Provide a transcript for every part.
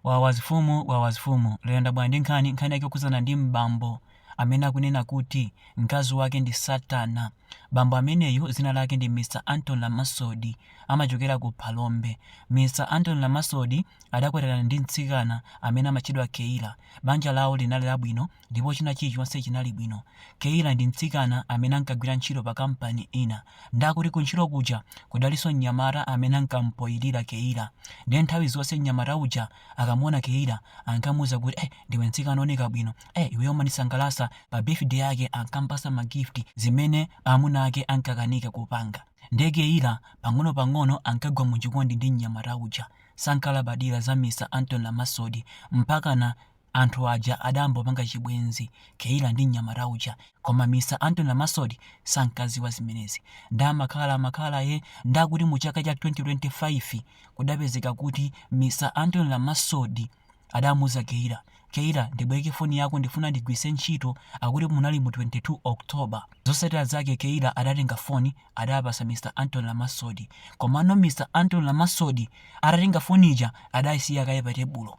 Wawazifumu Wawazifumu lero ndabwera ndi nkhani nkhani yake yokhudzana ndi m'bambo amene akunena kuti mkazi wake ndi satana bambo ameneyu dzina lake ndi Mr Anton Lamasodi amachokera ku Phalombe Mr Anton Lamasodi adakwatirana ndi mtsikana amene amatchedwa Keila banja lawo linali labwino Ndipo china chilichonse chinali bwino. Keila ndi mtsikana amene ankagwira ntchito pakampani ina. Ndiye akuti kuntchito kuja kudalinso mnyamata amene ankamupoyilira Keila. Ndiye nthawi zonse mnyamata uja akamuona Keila ankamuuza kuti, Eh ndiwe mtsikana wooneka bwino. Eh iweyo umandisangalatsa. Pa birthday yake ankamupatsa ma gift zimene amuna ake ankakanika kupanga. Ndiye Keila pang'onopang'ono ankagwa muchikondi ndi mnyamata uja. Sankalabadira za Mr Anton Lamasodi mpakana Anthu aja adambopanga chibwenzi Keila ndi mnyamata uja koma Mr Anton Lamasodi sankaziwa zimenezi nde amakhala amakhala eh nde akuti mu chaka cha 2025 kudapezeka kuti Mr Anton Lamasodi adamuuza Keila Keila ndibweke foni yako ndifuna ndigwiritse ntchito akuti munali mu 22 October zosatira zake Keila adatenga foni adapasa Mr Anton Lamasodi komano Mr Anton Lamasodi atatenga foni ija adaisiya kaye pa tebulo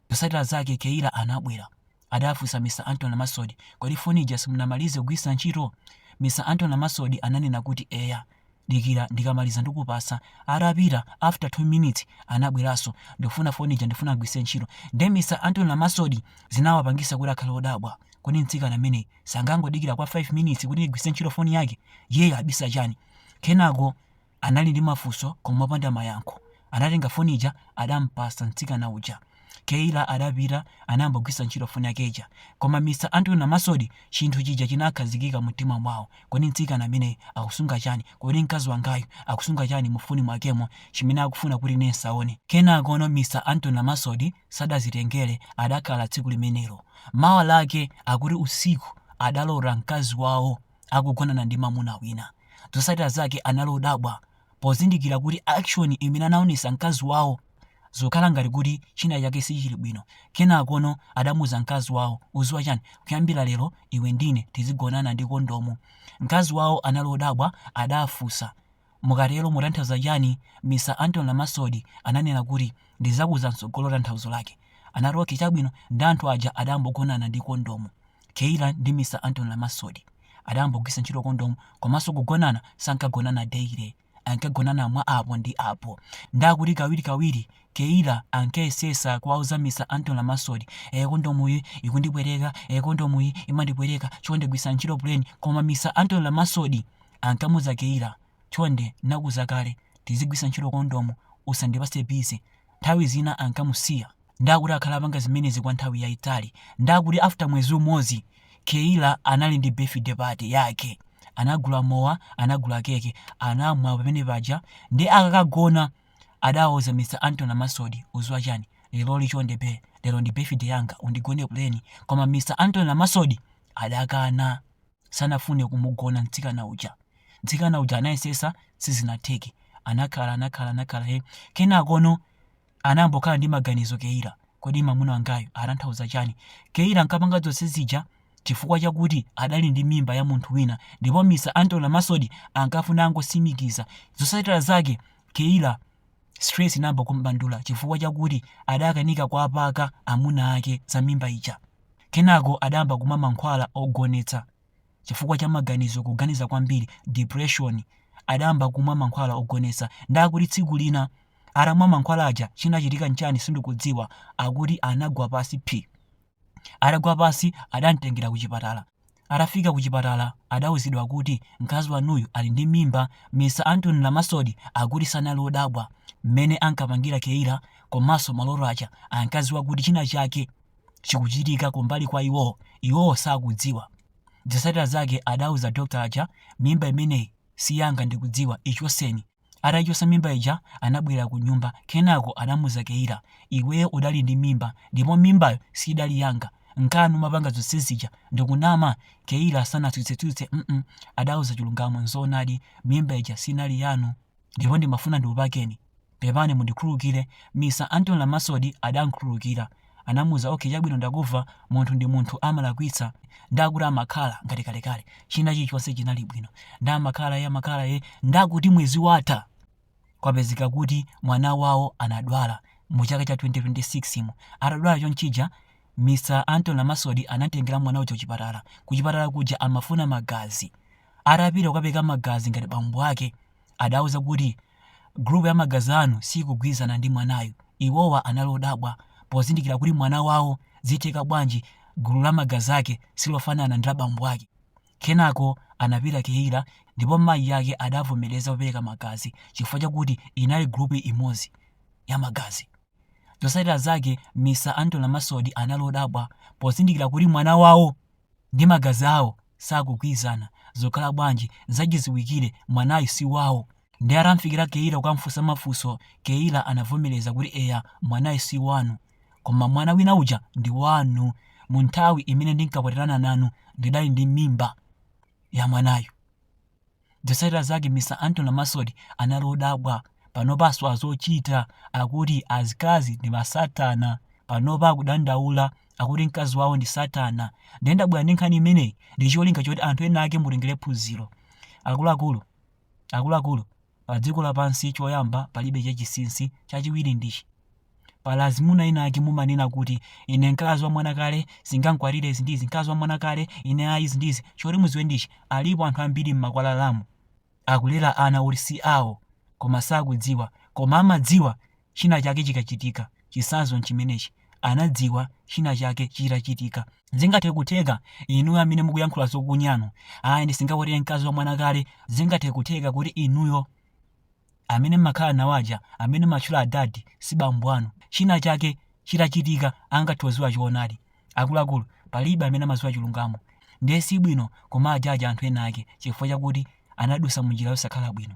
Zosatila zake Keila anabwela. Adafusa Mr Anton Lamasodi, kodi foni ija simunamalize kugwilisa nchito? Mr Anton Lamasodi ananena kuti eya. Dikila ndikamaliza ndikupasa. Atapita after 2 minutes anabwelaso, ndifuna foni ija ndifuna ndigwilise nchito. Nde Mr Anton Lamasodi zinawapangisa kuti akhale odabwa. Kodi mtsikana ameneyu sangangodikila kwa 5 minutes kuti ndigwilise nchito foni yake? Iyeyo abisa chani? Kenako Anali ndi mafunso koma opanda mayankho. Anatenga foni ija adampatsa mtsikana uja. Keila adapita anambogwiritsa ntchito foni yake ija. Koma Mr Anton Lamasodi chinthu chija chinakhazikika mumtima mwawo. Kodi mtsikana ameneyu akusunga chani? Kodi mkazi wangayu akusunga chani mufoni mwakemo chimene akufuna kuti ine ndisaone? Kenakono Mr Anton Lamasodi sadazitengere adakhala tsiku limenelo. Mawa lake akuti usiku adalota mkazi wawo akugonana ndi mamuna wina. Zosatira zake anali odabwa pozindikira kuti action imene anaonesa mkazi wawo zokhala ngati kuti china chake sichili bwino. Kenakono adamuza mkazi wawo, uziwa chani? Kuyambira lero iwe ndine tizigonana ndi kondomu. Mkazi wawo anali odabwa adafusa, Mukatero mutanthauza chani? Mr Anton Lamasodi ananena kuti ndizakuuza mtsogolo tanthauzo lake. Anati okay chabwino nde anthu aja adambogonana ndi kondomu. Keila ndi Mr Anton Lamasodi adambogwiritsa ntchito kondomu komaso kugonana sankagonana daily ankagonana mwa apo ndi apo nde akuti kawiri kawiri Keila ankayesesa kuwauza Mr Anton Lamasodi ee kondomuyi ikundipweteka ee kondomuyi imandipweteka chonde gwiritsani ntchito plain koma Mr Anton Lamasodi ankamuza Keila chonde nakuza kale tizigwisa ntchito kondomu usandipatse busy nthawi zina ankamusiya nde akuti akhala apanga zimenezi kwa nthawi yaitali nde akuti after mwezi umodzi Keila anali ndi birthday party yake anagula mowa anagula keke anamwa pamene paja nde akakagona adawauza Mr Anthony Lamasodi uziwa chani leroli chonde bae lero ndi birthday yanga undigone pleni koma Mr Anthony Lamasodi adakana sanafune kumugona mtsikana uja mtsikana uja anayesesa sizinatheke anakhala anakhala anakhala he kenakono anambokhala ndi maganizo Keila kodi mamuna wangayo atanthauza chani Keila ankapanga zonse zija chifukwa chakuti adali ndi mimba ya munthu wina ndipo Mr Anthony Lamasodi ankafuna angosimikiza zosatira zake Keila stress inayamba kum'bandula chifukwa chakuti adakanika kuwapaka amuna ake za mimba ija. Kenako adayamba kumwa mankhwala ogonetsa chifukwa cha maganizo kuganiza kwambiri, depression. Adayamba kumwa mankhwala ogonetsa. Ndiye akuti tsiku lina atamwa mankhwala aja chinachitika n'chani sindikudziwa, akuti anagwa pansi phi! Atagwa pansi adam'tengera kuchipatala. Atafika kuchipatala adauzidwa kuti mkazi wanuyu ali ndi mimba. Mr Anthony Lamasodi akuti sanali odabwa mmene ankapangira Keila komanso maloto aja. Ankadziwa kuti china chake chikuchitika kumbali kwa iwowo, iwowo sakudziwa. Zotsatira zake adauza doctor aja, mimba imeneyi si yanga ndikudziwa, ichotseni. Ataichotsa mimba ija anabwerera kunyumba kenako anamuuza Keila, Iweyo udali ndi mimba ndipo mimbayo siidali yanga, nkanu umapanga zonse zija ndikunama? Keila sanatsutse-tsutse mm adauza chilungamo, Nzoonadi mimba ija sinali yanu ndipo ndimafuna ndikupakeni. Pepani mundikhululukire, Mr Anthony Lamasodi adankhululukira. anamuuza ok chabwino ndakuva munthu ndi munthu amalakwitsa ndakuti amakhala ngati kalekale china chilichonse chinali bwino ndamakhala ye amakhala ye ndakuti mwezi watha kwapezeka kuti mwana wawo anadwala mu chaka cha 2026 imo atadwala chonchija Mr Anthony Lamasodi anamtengera mwana uja kuchipatala kuchipatala kuja amafuna magazi atapita kukapereka magazi ngati bambo ake adawauza kuti group ya magazi anu siikugwirizana ndi mwanayu. Iwowa anali odabwa pozindikira kuti mwana wawo zitheka bwanji gulu la magazi ake silofanana ndi la bambo ake. Kenako anapita Keila ndipo mayi ake adavomereza kupereka magazi chifukwa chakuti inali group imodzi ya magazi. Zotsatira zake Mr Anthony Lamasodi anali odabwa pozindikira kuti mwana wawo ndi magazi awo sakugwirizana zokhala bwanji zachiziwikire mwanayu si wawo ndi atamfikira Keila kukamfunsa mafunso Keila anavomereza kuti eya mwanayu si wanu koma mwana wina uja ndi wanu mu nthawi imene ndinkakwatirana nanu ndidali ndi mimba ya mwanayu Zotsatira zake Mr Anthony Lamasodi anali odabwa. Panopa asowa zochita. Akuti azikazi ndi masatana. Panopa akudandaula. Akuti mkazi wawo ndi satana. Ndiye ndabwera ndi nkhani imeneyi ndi cholinga choti anthu ena ake mutengere phunziro. Akuluakulu, akuluakulu, pa dziko lapansi choyamba palibe chachisinsi, chachiwiri ndichi. Pali azimuna ena ake mumanena kuti ine mkazi wa mwana kale singankwatire izi ndizi mkazi wa mwana kale ine ayi izi ndizi choti muziwe ndichi alipo anthu ambiri mmakwalalamu akulera ana oti si awo koma sakudziwa koma amadziwa china chake chikachitika chisanzo nchimenechi anadziwa china chake chitachitika zingathe kutheka inuyo amene mukuyankhula zonyanu ayi ndisingakwatire mkazi wa mwana kale zingathe kutheka kuti inuyo amene mmakhala nawo aja amene mmatchula adadi si bambo anu. china chake chitachitika angathoziwa choonadi. akuluakulu palibe amene amaziwa chilungamo ndiye si bwino kumawajaja anthu ena ake chifukwa chakuti anadusa munjira yosakhala bwino.